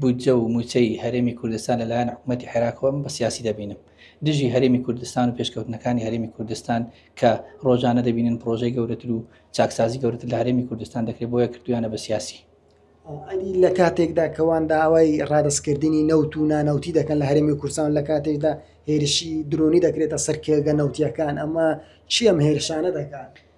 بودجە و مووچەی هەرێمی کوردستان لەلایەن حکوومەتی عێراقەوە من بە سیاسی دەبینم دژی هەرێمی کوردستان و پێشکەوتنەکانی هەرێمی کوردستان کە ڕۆژانە دەبینن پرۆژەی گەورەتر و چاکسازی گەورەتر لە هەرێمی کوردستان دەکرێت بۆیە کردویانە بە سیاسی ئەدی لە کاتێکدا کەوان داوای ڕادستکردنی نەوت و نانەوتی دەکەن لە هەرمی کورسان لە کاتێکدا هێرشی درۆنی دەکرێتە سەرکێگە نەوتیەکان ئەمە چی ئەم هێرشانە دەکات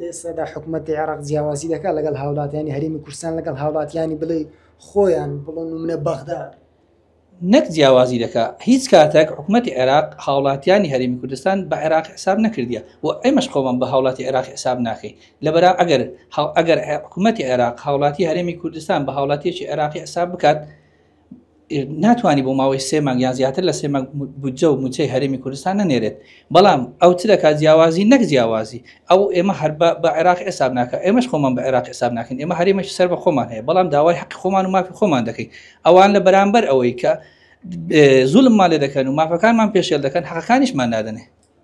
لێستادا حکومەتی عێراق جیاوازی دەکات لەگەڵ هاوڵاتیانی هەرمی کوردستان لەگەڵ هاوڵاتیانی بڵێ خۆیان بڵۆن و منە بەغدا نەک جیاوازی دەکە هیچ کاتێک حکوومەتتی عێراق هاوڵاتیانی هەرمی کوردستان بە عێراق حساب نەکردە و ئەمەش خۆمان بە هاوڵاتی عێراق حساب ناکەی لەبەر ئەگەر ئەگەر حکوومەتتی عێراق هاوڵاتی هەرمی کوردستان بە هاوڵاتیەکی عێراقی حساب بکات ناتوانانی بۆ ماوەی سێ مانگ یا زیاتر لە سێ مانگ بودجە و موچەی هەرێمی کوردستان نەنێرێت بەڵام ئەو چ دەکات جیاوازی نەک جیاوازی ئەو ئێمە هەر بە عێراق حساب ناکە ئێمەش خۆمان بە عێراق حساب ناکەین ئێمە هەرێمەش سەر بە خۆمان هەیە بەڵام داوای حق خۆمان و مافی خۆمان دەکەین ئەوان لە بەرامبەر ئەوەی کە زولممان لێ دەکەن و مافەکانمان پێشێل دەکەن حەقەکانیشمان نادەنێ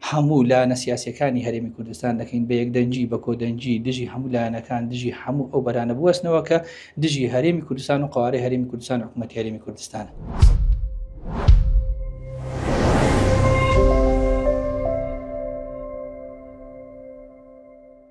هەموو لایەنە سیاسیەکانی هەرێمی کوردستان دەکەین بە یەکدەنگی بە کۆدەنگی دژی هەموو لایەنەکان دژی هەموو ئەو بەرانە بوەستنەوە کە دژی هەرێمی کوردستان و قوارەی هەرێمی کوردستان حکوومەت هەرێمی کوردستانە.